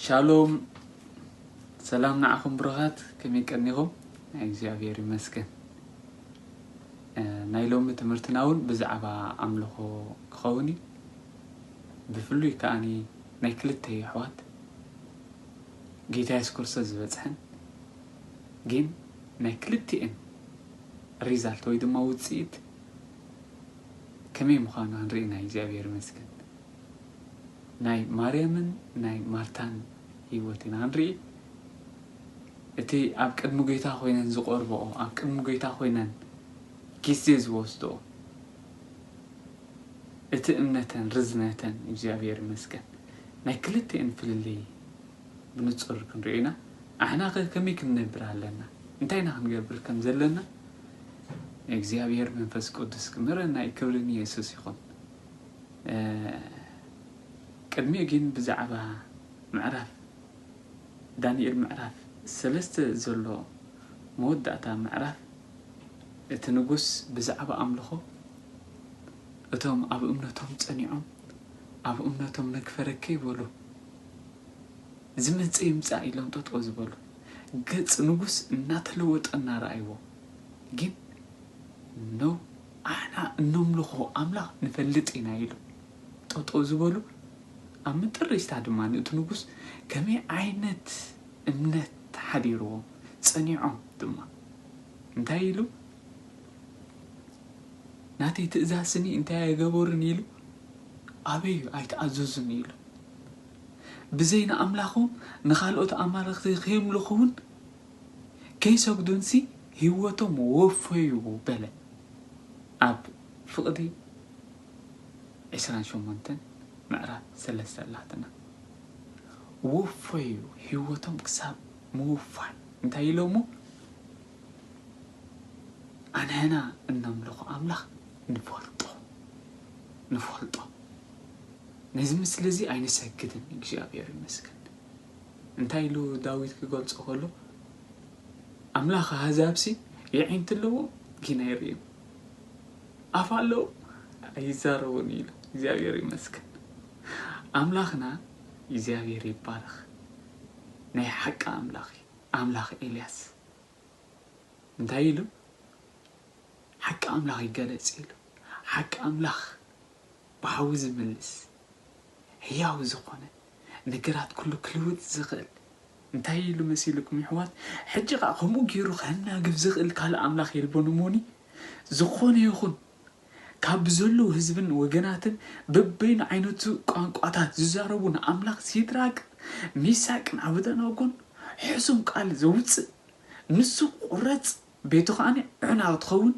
ሻሎም ሰላም ንዓኹም ብሩኻት ከመይ ቀኒኹም ናይ እግዚኣብሔር ይመስገን እ፣ ናይ ሎሚ ትምህርትና እውን ብዛዕባ ኣምልኾ ክኸውን እዩ ብፍሉይ ከዓኒ ናይ ክልተ የሕዋት ጌታ የሱስ ክርስቶስ ዝበጽሐን ጊን ናይ ክልቲኤን ሪዛልት ወይ ድማ ውጽኢት ከመይ ምዃኑ ኣንሪኢና እዩ እግዚኣብሔር ይመስገን ናይ ማርያምን ናይ ማርታን ህይወት ኢና ንርኢ እቲ ኣብ ቅድሚ ጌታ ኮይነን ዝቆርበኦ ኣብ ቅድሚ ጌታ ኮይነን ጊዜ ዝወስድኦ እቲ እምነተን ርዝነተን እግዚኣብሔር ይመስገን ናይ ክልቲኤን ፍልልይ ብንጹር ክንሪኦ ኢና ኣሕናኸ ከመይ ክንነብር ኣለና እንታይ ኢና ክንገብር ከም ዘለና እግዚኣብሔር መንፈስ ቅዱስ ክምህረና እዩ ክብሪ ንየሱስ ይኹን ቅድሚኡ ግን ብዛዕባ ምዕራፍ ዳንኤል ምዕራፍ ሰለስተ ዘሎ መወዳእታ ምዕራፍ እቲ ንጉስ ብዛዕባ ኣምልኾ እቶም ኣብ እምነቶም ጸኒዖም ኣብ እምነቶም ነግፈረ ከይበሉ ዝመጸ ይምጻእ ኢሎም ጠጠው ዝበሉ ገጽ ንጉስ እናተለወጠ እናረኣይዎ ግን ኖው ኣሕና እነምልኾ ኣምላኽ ንፈልጥ ኢና ኢሉ ጠጠው ዝበሉ ኣብ ምጥሪስታ ድማ ንእቲ ንጉስ ከመይ ዓይነት እምነት ሓዲርዎም ጸኒዖም ድማ እንታይ ኢሉ ናተይ ትእዛዝ ስሚ እንታይ ኣይገበሩን ኢሉ ኣበዩ ኣይትኣዘዙን ኢሉ ብዘይ ንኣምላኾም ንኻልኦት ኣማልኽቲ ከየምልኹውን ከይሰግዱንሲ ህይወቶም ወፈዩ በለ ኣብ ፍቕዲ ዕስራን ሸሞንተን ምዕራፍ ሰለስተ ኣላትና ወፈዩ ህይወቶም ክሳብ ምውፋን እንታይ ኢሎሞ ኣንሕና እነምልኾ ኣምላኽ ንፈልጦ ንፈልጦ ነዚ ምስሊ እዚ ኣይንሰግድን እግዚኣብሔር ይመስገን እንታይ ኢሉ ዳዊት ክገልጾ ከሎ ኣምላኽ ኣህዛብሲ የዒንቲ ኣለዎ ግን ኣይርእዩ ኣፍ ኣለዎ ኣይዛረቡን ኢሉ እግዚኣብሔር ይመስገን ኣምላኽና እግዚኣብሔር ይባረኽ ናይ ሓቂ ኣምላኽ እዩ ኣምላኽ ኤልያስ እንታይ ኢሉ ሓቂ ኣምላኽ ይገለጽ ኢሉ ሓቂ ኣምላኽ ብሓዊ ዝምልስ ሕያው ዝኾነ ነገራት ኩሉ ክልውጥ ዝኽእል እንታይ ኢሉ መሲልኩም ይሕዋት ሕጂ ከኣ ከምኡ ገይሩ ከናግብ ዝኽእል ካልእ ኣምላኽ የልቦን እሞኒ ዝኾነ ይኹን ካብ ብዘለዉ ህዝብን ወገናትን በበይኑ ዓይነቱ ቋንቋታት ዝዛረቡ ንኣምላኽ ሲድራቅ ሚሳቅን ዓብደናጎን ሕሱም ቃል ዘውጽእ ንሱ ክቝረጽ ቤቱ ከኣ ዑና ክትኸውን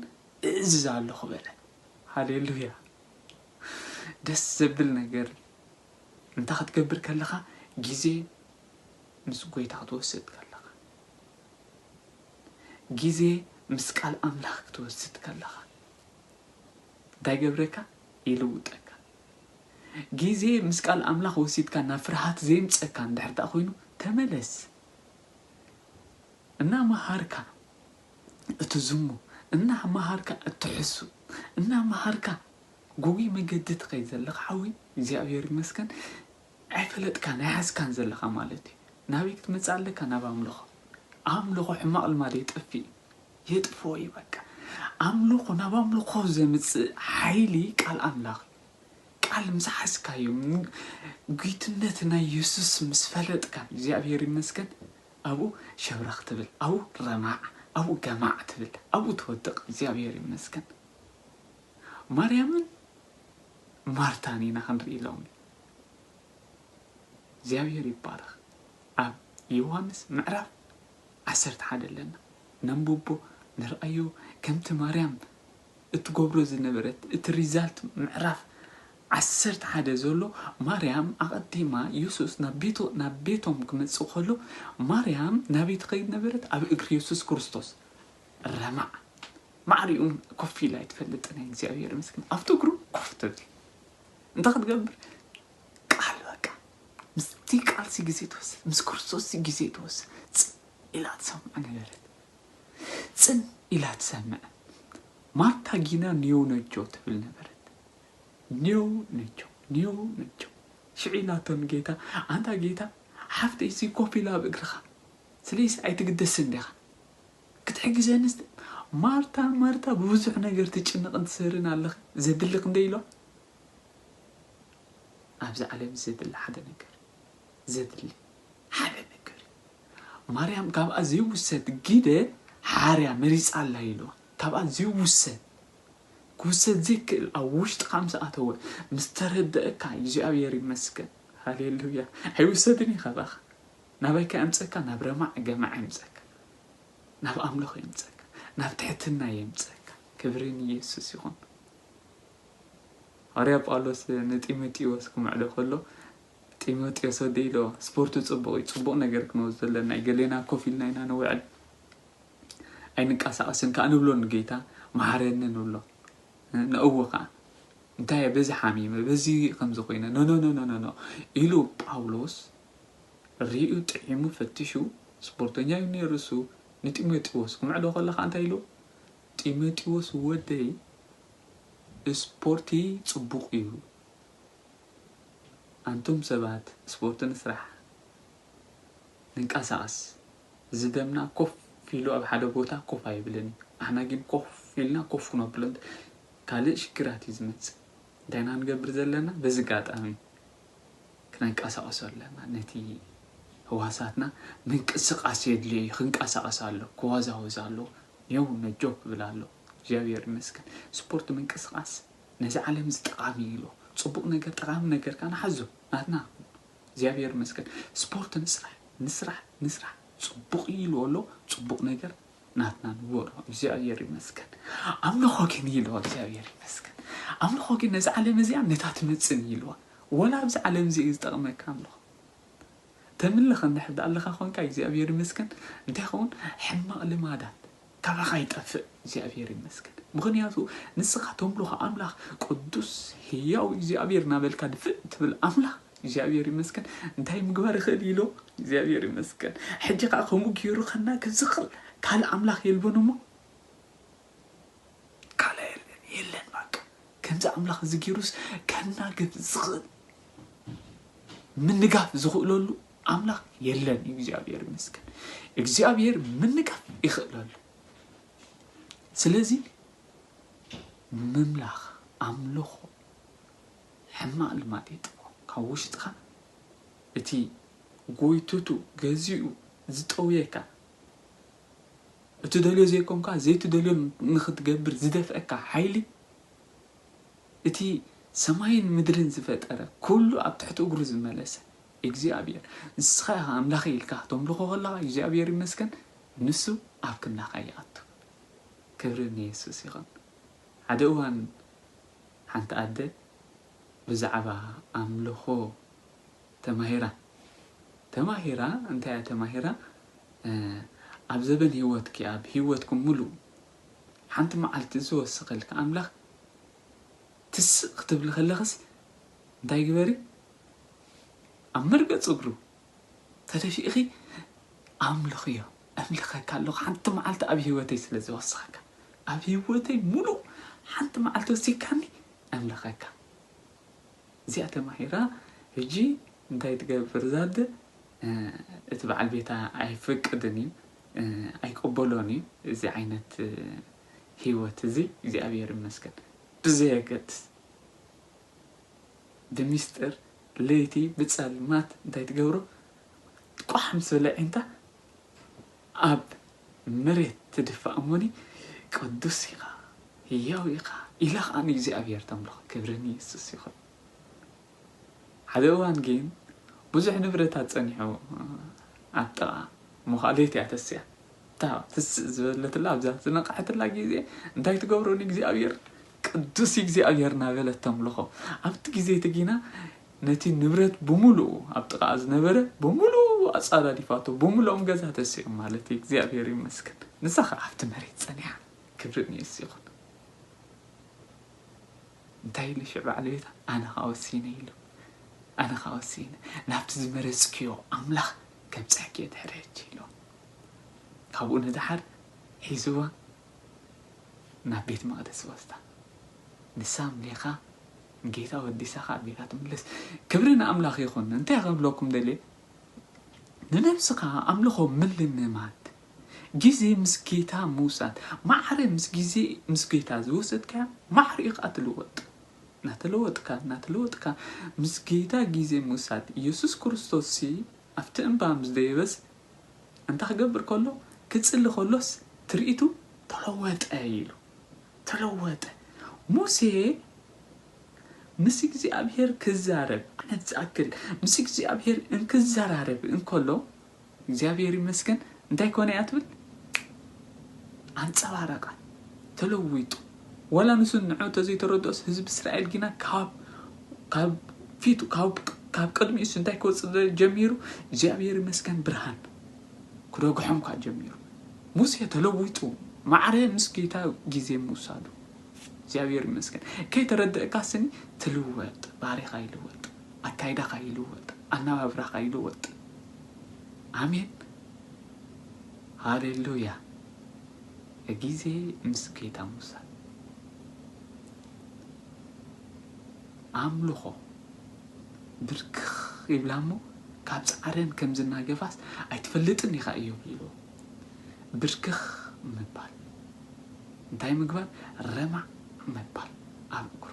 እእዝዝ ኣሎኹ በለ። ሃሌሉያ! ደስ ዘብል ነገር እዩ እንታይ ክትገብር ከለኻ ግዜ ምስ ጐይታ ክትወስድ ከለኻ ግዜ ምስ ቃል ኣምላኽ ክትወስድ ከለኻ። እንታይ ይገብረካ ይልውጠካ ግዜ ምስ ቃል ኣምላኽ ወሲድካ ናብ ፍርሃት ዘይምጸካ እንድሕር ደኣ ኮይኑ ተመለስ እና መሃርካ እትዝሙ እና መሃርካ እትሕሱ እና መሃርካ ጉጉይ መገዲ ትኸይድ ዘለኻ ሓወይ እግዚኣብሔር ይመስገን ኣይፈለጥካን ኣይሓዝካን ዘለኻ ማለት እዩ ናበይ ክትመጽእ ኣለካ ናብ ኣምልኾ ኣምልኾ ሕማቕ ልማድ የጥፍእ እዩ የጥፍኦ እዩ በቃ ኣምልኾ ናብ ኣምልኾ ዘምጽእ ሓይሊ ቃል ኣምላኽ እዩ ቃል ምስ ሓዝካዮ ጒትነት ናይ የሱስ ምስ ፈለጥካ እግዚኣብሔር ይመስገን ኣብኡ ሸብረኽ ትብል ኣብኡ ረማዕ ኣብኡ ገማዕ ትብል ኣብኡ ትወድቕ እግዚኣብሔር ይመስገን ማርያምን ማርታን ኢና ክንርኢ ሎሚ እግዚኣብሔር ይባረኽ ኣብ ዮሃንስ ምዕራፍ ዓሰርተ ሓደ ኣለና ነንብቦ ንርኣዮ ከምቲ ማርያም እትገብሮ ዝነበረት እቲ ሪዛልት ምዕራፍ ዓሰርተ ሓደ ዘሎ ማርያም ኣቐዲማ የሱስ ናብ ቤቶ ናብ ቤቶም ክመጽእ ከሎ ማርያም ናበይ ትኸይድ ነበረት ኣብ እግሪ የሱስ ክርስቶስ ረማዕ ማዕሪኡ ኮፍ ኢላ ኣይትፈልጥን እግዚኣብሔር ምስክን ኣብቲ እግሩ ኮፍ ትብል እንታይ ክትገብር ቃል በቃ ምስቲ ቃልሲ ግዜ ትወስድ ምስ ክርስቶስ ግዜ ትወስድ ጽን ኢላ ትሰምዕ ነበረት ጽን ኢላ ትሰምዕ ማርታ ጊና ኒዮ ነጆ ትብል ነበረት ኒዮ ነጆ ኒዮ ነጆ ሽዑ ኢላቶ ንጌታ ኣንታ ጌታ ሓፍተይ ሲ ኮፍ ኢላ ኣብ እግርኻ ስለይሲ ኣይትግደስን ዲኻ ክትሕግዘኒ ማርታ ማርታ ብብዙሕ ነገር ትጭነቕን ትሰርን ኣለኺ ዘድሊ ክንደይ ኢሎ ኣብዚ ዓለም ዘድሊ ሓደ ነገር ዘድሊ ሓደ ነገር እዩ ማርያም ካብኣ ዘይውሰድ ግደ ሓርያ መሪጻ ኣላ ኢልዋ ካብኣ ዘይውሰድ ክውሰድ ዘይክእል ኣብ ውሽጥካ ምስ ኣተወ ምስ ተረደእካ እግዚኣብሔር ይመስገን ሃሌሉያ ኣይውሰድን እዩ ካባኻ ናበይካ የምፀካ ናብ ረማዕ ገማዕ የምፀካ ናብ ኣምልኾ የምፀካ ናብ ትሕትና የምፀካ ክብሪ ንኢየሱስ ይኹን ሃዋርያ ጳውሎስ ንጢሞቴዎስ ክምዕዶ ከሎ ጢሞቴዎስ ወደይ ኢልዎ ስፖርት ጽቡቕ እዩ ጽቡቕ ነገር ክንወስዶ ኣለና ገሌና ኮፍ ኢልና ኢና ንውዕል ኣይንቀሳቐስን ከኣ ንብሎ ንጌታ መሓረኒ ንብሎ ንእዎ ከኣ እንታይ በዚ ሓሚመ በዚ ከምዚ ኮይነ ኖኖኖኖኖ ኢሉ ጳውሎስ ርእዩ ጥዒሙ ፈቲሹ ስፖርተኛ እዩ ነይሩ እሱ ንጢሞቴዎስ ክምዕዶ ከሎ ከኣ እንታይ ኢልዎ ጢመጢዎስ ወደይ እስፖርቲ ጽቡቅ እዩ ኣንቱም ሰባት እስፖርቲ ንስራሕ ንንቃሳቀስ እዚ ደምና ኮፍ ኢሉ ኣብ ሓደ ቦታ ኮፍ ኣይብልን እዩ ኣሕና ጊን ኮፍ ኢልና ኮፍ ክነብሎ እንተ ካልእ ሽግራት እዩ ዝመጽእ እንታይ እና ንገብር ዘለና በዚ ጋጣሚ ክነንቃሳቀሶ ኣለና ነቲ ህዋሳትና ምንቅስቃስ የድልዮ እዩ ክንቃሳቀስ ኣለዎ ክዋዛወዝ ኣለዎ ኔው ነጆ ክብል ኣሎ እግዚኣብሔር ይመስገን ስፖርት ምንቅስቃስ ነዚ ዓለም እዚ ጠቃሚ እዩ ኢሎ ፅቡቅ ነገር ጠቃሚ ነገር ካዓ ንሓዞ ናትና ንኩን እግዚኣብሔር ይመስገን ስፖርት ንስራሕ ንስራሕ ንስራሕ ፅቡቅ እዩ ኢልዎ ኣሎ ፅቡቅ ነገር ናትና ንግበሮ እግዚኣብሔር ይመስገን ኣምልኮ ግን ኢልዎ እግዚኣብሔር ይመስገን ኣምልኮ ግን ነዚ ዓለም እዚኣ ነታ ትመፅን እዩ ኢልዋ ወላ ኣብዚ ዓለም እዚ እዩ ዝጠቅመካ ኣምልኮ ተምልኽ እንድሕር ድኣለኻ ኮንካ እግዚኣብሔር ይመስገን እንታይ ይኸውን ሕማቕ ልማዳት ካባኻ ይጠፍእ እግዚኣብሔር ይመስገን ምኽንያቱ ንስኻ ተምልኾ ኣምላኽ ቅዱስ ህያው እግዚኣብሔር ናበልካ ድፍእ ትብል ኣምላኽ እግዚኣብሔር ይመስገን እንታይ ምግባር ይኽእል ኢሎ እግዚኣብሔር ይመስገን ሕጂ ከኣ ከምኡ ገይሩ ከናግፍ ዝኽል ካልእ ኣምላኽ የልቦን እሞ ካልእ የለን የለን ባቃ ከምዚ ኣምላኽ እዚ ጌሩስ ከናግፍ ዝኽእል ምንጋፍ ዝኽእለሉ ኣምላኽ የለን እዩ እግዚኣብሔር ይመስገን እግዚኣብሔር ምንጋፍ ይኽእለሉ ስለዚ ምምላኽ ኣምልኾ ሕማቕ ልማድ የጥፎ ካብ ውሽጥኻ እቲ ጎይትቱ ገዚኡ ዝጠውየካ እትደልዮ ዘይኮንካ ዘይትደልዮ ንኽትገብር ዝደፍኣካ ሓይሊ፣ እቲ ሰማይን ምድርን ዝፈጠረ፣ ኩሉ ኣብ ትሕቲ እግሩ ዝመለሰ እግዚኣብሔር፣ ንስኻ ኢኻ ኣምላኸይ ኢልካ ክተምልኾ ከለኻ እግዚኣብሔር ይመስገን ንሱ ኣብ ክንዳኻ ይኣቱ። ክብሪ ንየሱስ ይኹን። ሓደ እዋን ሓንቲ ኣደ ብዛዕባ ኣምልኾ፣ ተማሂራ ተማሂራ እንታይ እያ ተማሂራ ኣብ ዘበን ሂወትኪ ኣብ ሂወትኩም ምሉእ ሓንቲ መዓልቲ ዝወሰኸልኪ ኣምላኽ ትስእ ክትብሊ ከለኽስ እንታይ ግበሪ ኣብ መርገጽ እግሩ ተደፊእኺ ኣምልኽዮ እምልኸካ ኣለኹ ሓንቲ መዓልቲ ኣብ ሂወተይ ስለ ዝወሰኸካ ኣብ ሂወተይ ምሉእ ሓንቲ መዓልቲ ወሲካኒ እምልኸካ እዚኣ ተማሂራ ህጂ እንታይ ትገብር እዛ ኣደ እቲ በዓል ቤታ ኣይፈቅድን እዩ ኣይቅበሎን እዩ እዚ ዓይነት ሂወት እዚ እግዚኣብሔር ይመስገን ብዘየገድስ ብሚስጥር ለይቲ ብጸልማት እንታይ ትገብሮ ቋሕ ምስ በለ ኣዒንታ ኣብ መሬት ትድፋእ እሞኒ ቅዱስ ኢኻ ህያው ኢኻ ኢላ ኸኣ ንእግዚኣብሄር ተምልኾ ክብሪ ንየሱስ ይኹን ሓደ እዋን ግን ብዙሕ ንብረታት ጸኒሑ ኣብ ጥቓ መዃሌት እያ ተስያ እታ ትስእ ዝበለትላ ኣብዛ ዝነቕሐትላ ግዜ እንታይ ትገብሮ ንእግዚኣብሄር ቅዱስ እግዚኣብሄር ናበለት ተምልኾ ኣብቲ ግዜ እቲ ግና ነቲ ንብረት ብምሉኡ ኣብ ጥቓኣ ዝነበረ ብምሉኡ ኣጻዳዲፋቶ ብምሉኦም ገዛ ተሲኦም ማለት እዩ እግዚኣብሔር ይመስገን ንሳ ከኣ ኣብቲ መሬት ጸኒሓ ክብሪ ንየሱ ይኹን እንታይ ኢሉ ሽዕ በዓል ቤታ ኣነ ከኣ ወሲነ ኢሉ ኣነ ከኣ ወሲነ ናብቲ ዝመረጽክዮ ኣምላኽ ከምጽሕክዮ ድሕሪ ሕጂ ኢሉ ካብኡ ንድሓር ሒዝዋ ናብ ቤት መቕደስ ወስዳ ንሳ ምሌኻ ጌታ ወዲሳ ካኣ ጌታ ትምለስ ክብሪ ንኣምላኽ ይኹን እንታይ ክብለኩም ደልየ ንነብስኻ ኣምልኾ ምልምማድ ግዜ ምስ ጌታ ምውሳድ ማዕረ ምስ ግዜ ምስ ጌታ ዝወሰድካያ ማዕረ ኢኻ ትልወጥ ናተለወጥካ ናተለወጥካ ምስ ጌታ ግዜ ምውሳድ ኢየሱስ ክርስቶስሲ ኣብቲ እምባ ምስ ደየበስ እንታይ ክገብር ከሎ ክጽሊ ከሎስ ትርኢቱ ተለወጠ ኢሉ ተለወጠ። ሙሴ ምስ እግዚኣብሄር ክዛረብ ዓመት ዝኣክል ምስ እግዚኣብሄር እንክዘራረብ እንከሎ እግዚኣብሄር ይመስገን እንታይ ኮነ እያ ትብል ኣንጸባረቐ ተለዊጡ ወላ ንሱ ንዑ ተዘይተረድኦስ ህዝቢ እስራኤል ግና ካብ ካብ ፊቱ ካብ ካብ ቅድሚ እሱ እንታይ ክወፅእ ጀሚሩ እግዚኣብሄር ይመስገን ብርሃን ክደግሖም ኳ ጀሚሩ ሙሴ ተለዊጡ ማዕረ ምስ ጌታ ግዜ ምውሳዱ እግዚኣብሔር ይመስገን ከይተረደእካ ስኒ ትልወጥ ባህሪካ ይልወጥ ኣካይዳካ ይልወጥ ኣናባብራካ ይልወጥ ኣሜን ሃሌሉያ ግዜ ምስ ጌታ ምውሳድ። ኣምልኾ ብርክኽ ይብላ እሞ ካብ ጻዕረን ከም ዝናገፋስ ኣይትፈልጥን ኢኻ እዮ ኢልዎ። ብርክኽ ምባል እንታይ ምግባር ረማዕ ምባል ኣብ እግሩ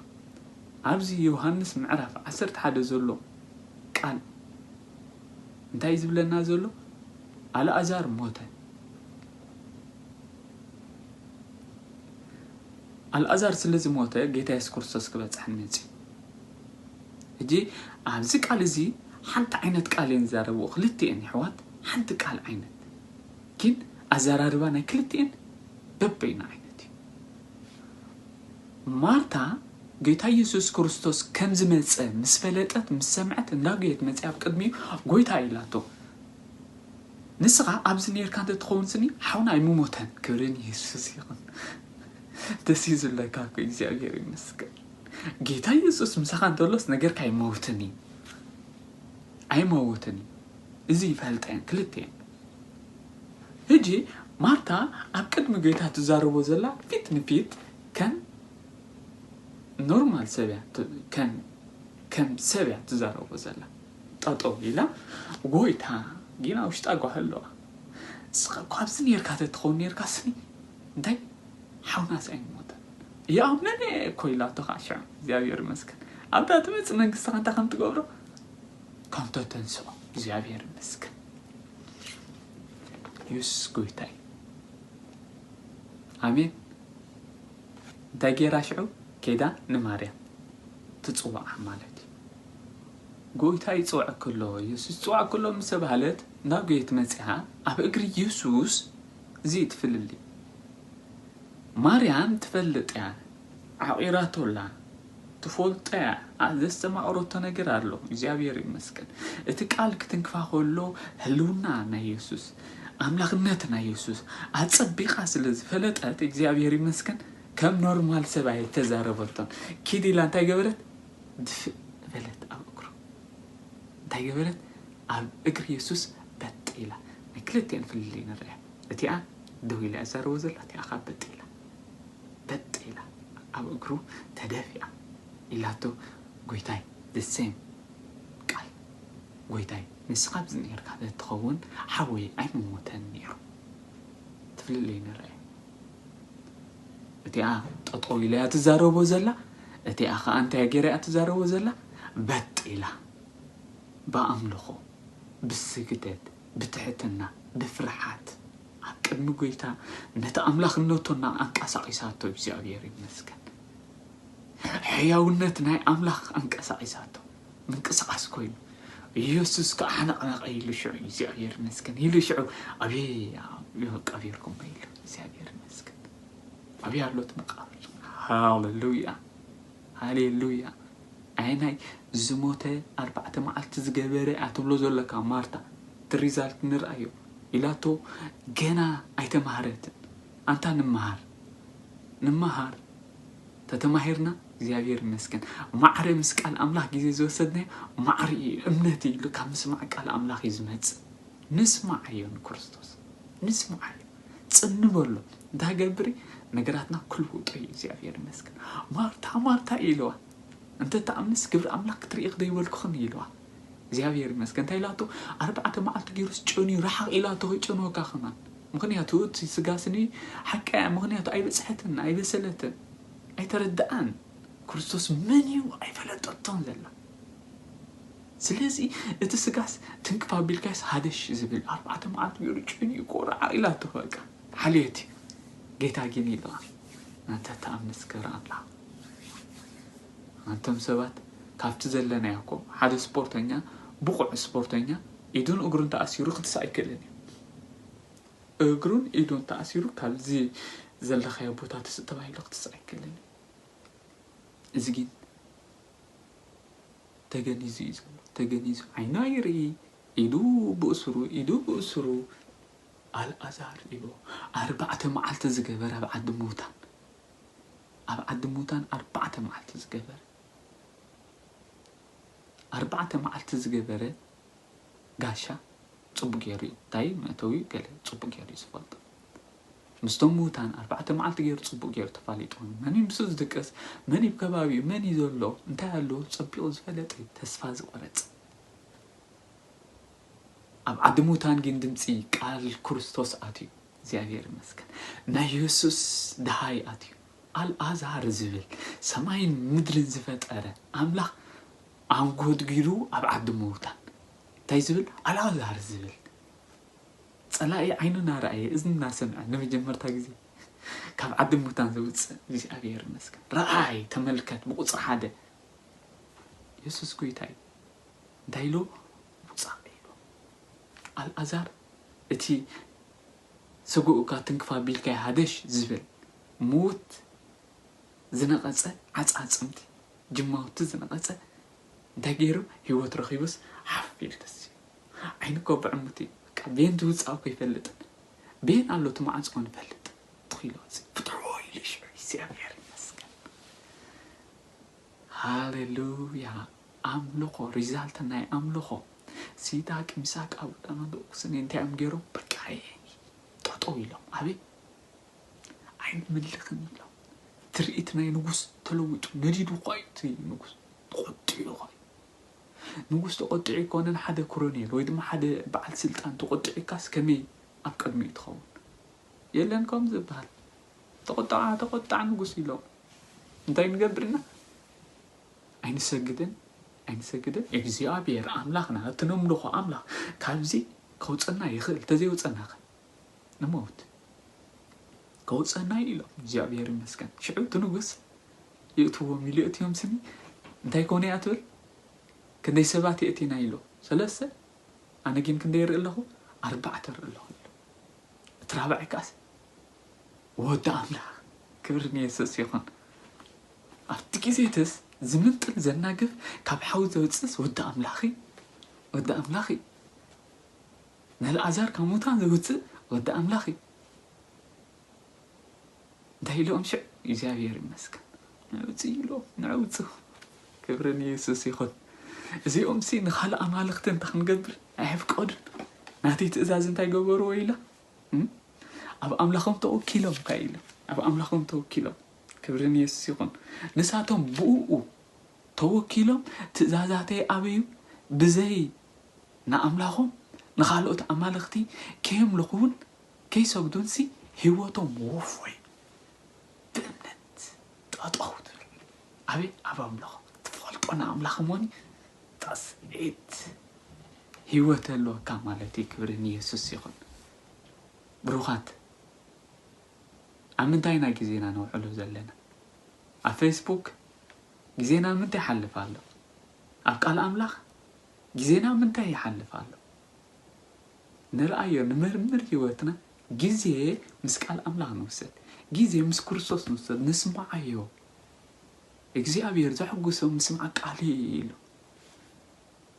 ኣብዚ ዮሃንስ ምዕራፍ ዓሰርተ ሓደ ዘሎ ቃል እንታይ እዩ ዝብለና ዘሎ ኣልኣዛር ሞተ ኣልኣዛር ስለ ዝሞተ ጌታ የሱስ ክርስቶስ ክበጽሐኒ መጺኡ። ሕጂ ኣብዚ ቃል እዚ ሓንቲ ዓይነት ቃል እየን ዝዛረብኡ ክልቲኤን የሕዋት ሓንቲ ቃል ዓይነት ግን ኣዘራርባ ናይ ክልቲኤን በበይኑ ዓይነት እዩ። ማርታ ጌታ የሱስ ክርስቶስ ከም ዝመጸ ምስ ፈለጠት ምስ ሰምዐት እንዳጎየት መጺኣ ኣብ ቅድሚኡ ጎይታ ኢላቶ ንስኻ ኣብዚ ኔርካ እንተትኸውን ስኒ ሓውና ኣይምሞተን ክብሪ ንየሱስ ይኹን ደስ እዩ ዝብለካ እኮ እግዚኣብሔር ይመስገን ጌታ የሱስ ምሳኻ እንተሎስ ነገርካ ኣይመውትን እዩ ኣይመውትን እዩ እዚ ይፈልጠን ክልቴን ህጂ ማርታ ኣብ ቅድሚ ጌታ ትዛረቦ ዘላ ፊት ንፊት ከም ኖርማል ሰብ እያ ከም ሰብ እያ ትዛረቦ ዘላ ጠጠው ኢላ ጎይታ ግን ኣብ ውሽጣ ጓሂ ኣለዋ ንስኻ እኮ ኣብዚ ኔርካ ተትኸውን ኔርካ ስኒ እንታይ ሓውናስ ኣይምሞተን ይኣምን እየ እኮ ኢላቶ ከዓ ሽዑ እግዚኣብሔር ይመስገን ኣብታ ትመፅእ መንግስትኻ እንታይ ከም ትገብሮ ከም ተተንስኦ እግዚኣብሔር ይመስገን ኢየሱስ ጎይታ እዩ ኣሜን እንታይ ጌራ ሽዑ ኬዳ ንማርያም ትፅዋዓ ማለት እዩ ጎይታ ይጽውዐኪ ኣሎ፣ የሱስ ይጽውዐኪ ኣሎ ምስ ተባህለት ናብ ቤት መጺኣ ኣብ እግሪ የሱስ እዚ እዩ እቲ ፍልልይ ማርያም ትፈልጥ እያ ዓቚራቶ ኣላ ትፈልጦ እያ ኣ ዘስተማቕረቶ ነገር ኣሎ እግዚኣብሔር ይመስገን እቲ ቃል ክትንክፋ ከሎ ህልውና ናይ የሱስ ኣምላኽነት ናይ የሱስ ኣጸቢቓ ስለ ዝፈለጠት እግዚኣብሔር ይመስገን ከም ኖርማል ሰብ ኣይተዛረበቶን ኪድ ኢላ እንታይ ገበረት ድፍእ በለት ኣብ እግሩ። እንታይ ገበረት? ኣብ እግሪ የሱስ በጥ ኢላ። ናይ ክልቲኤን ፍልልይ ንርኣ። እቲኣ ደው ኢላ እያ ትዛረቦ ዘላ፣ እቲኣ ከኣ በጥ ኢላ። በጥ ኢላ ኣብ እግሩ ተደፊኣ። ኢላቶ ጎይታይ the same ቃል ጎይታይ ንስኻ ኣብዚ ኔርካ ተትኸውን ሓወይ ኣይምሞተን ኔሩ። እቲ ፍልልይ ንርኣ። እቲኣ ጠጠው ኢላ እያ ትዛረቦ ዘላ እቲኣ ከዓ እንታይ ገይራ እያ ትዛረቦ ዘላ በጥ ኢላ ብኣምልኾ ብስግደት ብትሕትና ብፍርሓት ኣብ ቅድሚ ጎይታ ነቲ ኣምላኽነቱና ኣንቀሳቒሳቶ እግዚኣብሔር ይመስገን ሕያውነት ናይ ኣምላኽ ኣንቀሳቒሳቶ ምንቅስቃስ ኮይኑ ኢየሱስ ከዓ ሓነቅነቀ ኢሉ ሽዑ እግዚኣብሔር ይመስገን ኢሉ ሽዑ ኣብየ ቀቢርኩሞ ኢሉ እግዚኣብሔር ይመስገን ኣብየ ኣሎት መቃብር ሃሌሉያ ሃሌሉያ ኣይ ናይ ዝሞተ ኣርባዕተ መዓልቲ ዝገበረ እያ ትብሎ ዘለካ ማርታ እቲ ሪዛልት ንርኣዮ ኢላቶ ገና ኣይተማህረትን ኣንታ ንመሃር ንመሃር ተተማሂርና እግዚኣብሔር ይመስገን ማዕረ ምስ ቃል ኣምላኽ ግዜ ዝወሰድናዮ ማዕረ እዩ እምነት እዩ ኢሉ ካብ ምስማዕ ቃል ኣምላኽ እዩ ዝመጽእ ንስማዓዮ ንክርስቶስ ንስማዓዮ ጽን በሎ እንታገብሪ ነገራትና ክልውጦ እዩ እግዚኣብሔር ይመስገን ማርታ ማርታ ኢልዋ እንተ እትኣምንስ ግብሪ ኣምላኽ ክትርኢ ክደይበልኩኽን ኢልዋ። እግዚኣብሄር ይመስገን እንታይ ኢላቶ ኣርባዕተ መዓልቲ ጌሩስ ጨንዩ ርሓቕ ኢላቶ ከይጨንወካ ከማን ምኽንያቱ እቲ ስጋ ስኒ ሓቃ እያ ምኽንያቱ ኣይበጽሐትን ኣይበሰለትን ኣይተረድኣን ክርስቶስ መን እዩ ኣይፈለጠቶን ዘላ ስለዚ እቲ ስጋስ ትንክፍ ኣቢልካስ ሃደሽ ዝብል ኣርባዕተ መዓልቲ ጌሩ ጨንዩ እኮ ርሓቕ ኢላቶ በቃ ሓልዮት እዩ ጌታ ጊን ኢልዋ እንተ እትኣምንስ ግብሪ ኣምላኽ ኣንቶም ሰባት ካብቲ ዘለናዮ እኮ ሓደ ስፖርተኛ ብቑዕ ስፖርተኛ ኢዱን እግሩን ተኣሲሩ ክትስእ ኣይክእልን እዩ። እግሩን ኢዱን ተኣሲሩ ካብዚ ዘለኻዮ ቦታ ትስእ ተባሂሉ ክትስእ ኣይክእልን እዩ። እዚ ግን ተገኒዙ እዩ ዘሎ ተገኒዙ ዓይኑ ኣይርኢ ኢዱ ብእሱሩ ኢዱ ብእሱሩ ኣልኣዛር ኢሉ ኣርባዕተ መዓልቲ ዝገበረ ኣብ ዓዲ ምውታን ኣብ ዓዲ ሙታን ኣርባዕተ መዓልቲ ዝገበረ ኣርባዕተ መዓልቲ ዝገበረ ጋሻ ጽቡቅ ገይሩ እዩ እንታይ መእተዊ ገለ ጽቡቅ ገይሩ እዩ ዝፈልጦ ምስቶም ምውታን ኣርባዕተ መዓልቲ ገይሩ ጽቡቅ ገይሩ ተፋሊጡ መን እዩ ምስ ዝድቅስ መን እዩ ከባቢኡ መን እዩ ዘሎ እንታይ ኣሎ ጸቢቑ ዝፈለጥ እዩ ተስፋ ዝቆረጽ ኣብ ዓዲ ሙታን ግን ድምፂ ቃል ክርስቶስ ኣትዩ እግዚኣብሔር ይመስገን ናይ የሱስ ደሃይ ኣትዩ ኣልኣዛር ዝብል ሰማይን ምድርን ዝፈጠረ ኣምላኽ ኣንጎድጊዱ ኣብ ዓዲ ምዉታን እንታይ ዝብል ኣልኣዛር ዝብል ጸላኢ ዓይኑ ናረኣየ እዝኒ ናሰምዐ ንመጀመርታ ግዜ ካብ ዓዲ ምዉታን ዘውጽእ እግዚኣብሔር ይመስገን ረኣይ ተመልከት ብቁጽሪ ሓደ የሱስ ጎይታ እዩ እንታይ ኢልዎ ውጻእ ኢልዎ ኣልኣዛር እቲ ስግኡ እካ ትንክፍ ኣቢልካዮ ሃገሽ ዝብል ሙውት ዝነቀጸ ዓጻጽምቲ ጅማውቲ ዝነቀጸ እንታይ ጌሩ ሂወት ረኪቡስ ሓፍ ኢሉ ተሲኡ ዓይኑ እኮ ብዕሙት እዩ በቃ ቤን ዝውጻእ እኮ ኣይፈልጥን ቤን ኣሎ እቲ ማዓንጽ ኮን ይፈልጥ ትኪሎ እዚ ፍትሖ ኢሉ ሽዑ ይስዕብ ይሕር ይመስገን ሃሌሉያ ኣምልኾ ሪዛልት ናይ ኣምልኾ ሲዳቅ ሚሳቅ ኣብደናጎ ስኒ እንታይ እዮም ገይሮም በቃ ጠጠው ኢሎም ኣበይ ኣይንምልኽን ኢሎም ትርኢት ናይ ንጉስ ተለዊጡ ነዲዱ እኳ እዩ እቲ ንጉስ ተቆጢዑ እኳ እዩ ንጉስ ተቆጢዑ ይኮነን ሓደ ኮሎኔል ወይ ድማ ሓደ በዓል ስልጣን ተቆጢዑካስ ከመይ ኣብ ቅድሚኡ ትኸውን የለን ከም ዝበሃል ተቆጣዕ ተቆጣዕ ንጉስ ኢሎም እንታይ ንገብር እና ኣይንሰግድን ኣይንሰግድን እግዚኣብሔር ኣምላኽና እቲ ነምልኾ ኣምላኽ ካብዚ ከውፀና ይኽእል እንተዘይወፀና ከ ንመውት ከውፀና እዩ ኢሎም እግዚኣብሔር ይመስገን ሽዑ እቲ ንጉስ ይእትዎም ኢሉ የእትዮም ስኒ እንታይ ኮነ እያ ትብል ክንደይ ሰባት የእቲና ኢሎ ሰለስተ ኣነ ግን ክንደይ ይርኢ ኣለኹ ኣርባዕተ ይርኢ ኣለኹ ኢሎ እቲ ራብዓይ ከዓስ ወዲ ኣምላኽ ክብሪ ንየሱስ ይኹን ኣብቲ ግዜ እትስ ዝምንጥል ዘናግፍ ካብ ሓዊ ዘውጽስ ወዲ ኣምላኽ ወዲ ኣምላኽ ነልኣዛር ካብ ሙታን ዘውጽእ ወዲ ኣምላኽ እዩ እንታይ ኢሎም ሽዕ እግዚኣብሔር ይመስገን ንዕውፅ ኢሎ ንዕውፁ ክብሪ ንየሱስ ይኹን እዚኦም ሲ ንካልእ ኣማልኽቲ እንተ ክንገብር ኣይሕፍቀዱን ናተይ ትእዛዝ እንታይ ገበርዎ ኢላ ኣብ ኣምላኾም ተወኪሎም ታይ ኢሉ ኣብ ኣምላኾም ተወኪሎም ክብሪ ንየሱስ ይኹን ንሳቶም ብእኡ ተወኪሎም ትእዛዛተይ ኣበዩ ብዘይ ንኣምላኾም ንኻልኦት ኣማልኽቲ ከየምልኹውን ከይሰግዱንሲ ህይወቶም ወፎይ ብእምነት ጠጠው ትብል ኣበይ ኣብ ኣምላኾም ትፈልጦ ንኣምላኽ ሞኒ ጣስዒት ሂወት ኣለወካ ማለት እዩ ክብሪ ንየሱስ ይኩን ብሩካት ኣብ ምንታይ ኢና ግዜና ነውዕሎ ዘለና ኣብ ፈይስቡክ ግዜና ኣብ ምንታይ ይሓልፍ ኣሎ ኣብ ቃል ኣምላክ ግዜና ኣብ ምንታይ ይሓልፍ ኣሎ ንርኣዮ ንመርምር ሂወትና ግዜ ምስ ቃል ኣምላክ ንውሰድ ግዜ ምስ ክርስቶስ ንውሰድ ንስምዓዮ እግዚኣብሔር ዘሕጉሶ ምስማዕ ቃሉ እዩ ኢሉ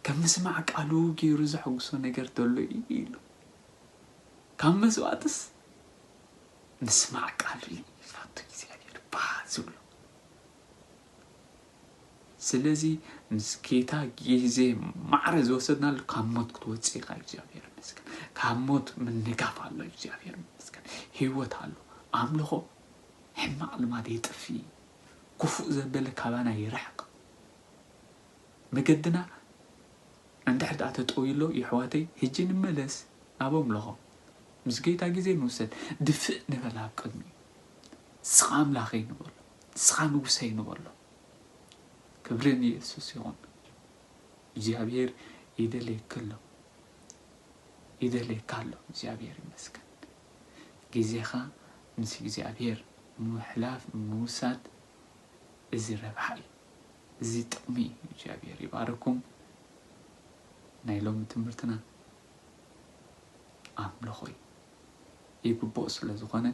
ከም ምስማዕ ቃሉ ገይሩ ዘሐጕሶ ነገር ተሎ ኢዩ ኢሉ። ካብ መስዋእትስ ምስማዕ ቃሉ ኢዩ ዝፈቱ እግዚኣብሄር ባህ ዝብሎ። ስለዚ ምስ ጌታ ግዜ ማዕረ ዝወሰድናሉ ካብ ሞት ክትወጽእ ኢኻ እግዚኣብሄር ይመስገን። ካብ ሞት ምንጋፍ ኣሎ እግዚኣብሄር ይመስገን። ህይወት ኣሎ። ኣምልኾ ሕማቕ ልማድ የጥፍእ ኢዩ። ክፉእ ዘበለ ካባና ይርሕቕ። መገድና እንድሕር ድኣ ተጠውዩሎ የሕዋተይ ህጂ ንመለስ ናብ ኣምልኾ ምስ ጌታ ግዜ ንውሰድ ድፍእ ንበል ኣብ ቅድሚኡ ንስኻ ኣምላኸይ ንበሎ ንስኻ ንጉሰይ ንበሎ ክብሪ ንየሱስ ይኹን እግዚኣብሄር ይደልየኪ ኣሎ ይደልየካ ኣሎ እግዚኣብሄር ይመስገን ግዜኻ ምስ እግዚኣብሄር ምሕላፍ ምውሳድ እዚ ረብሓ እዩ እዚ ጥቅሚ እዩ እግዚኣብሔር ይባርኩም ናይ ሎሚ ትምህርትና ኣምልኾ እዩ ይግብኦ ስለ ዝኾነ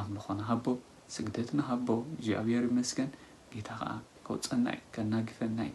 ኣምልኾ ንሃቦ ስግደት ንሃቦ እግዚኣብሔር ይመስገን ጌታ ከዓ ከውፀና እዩ ከናግፈና እዩ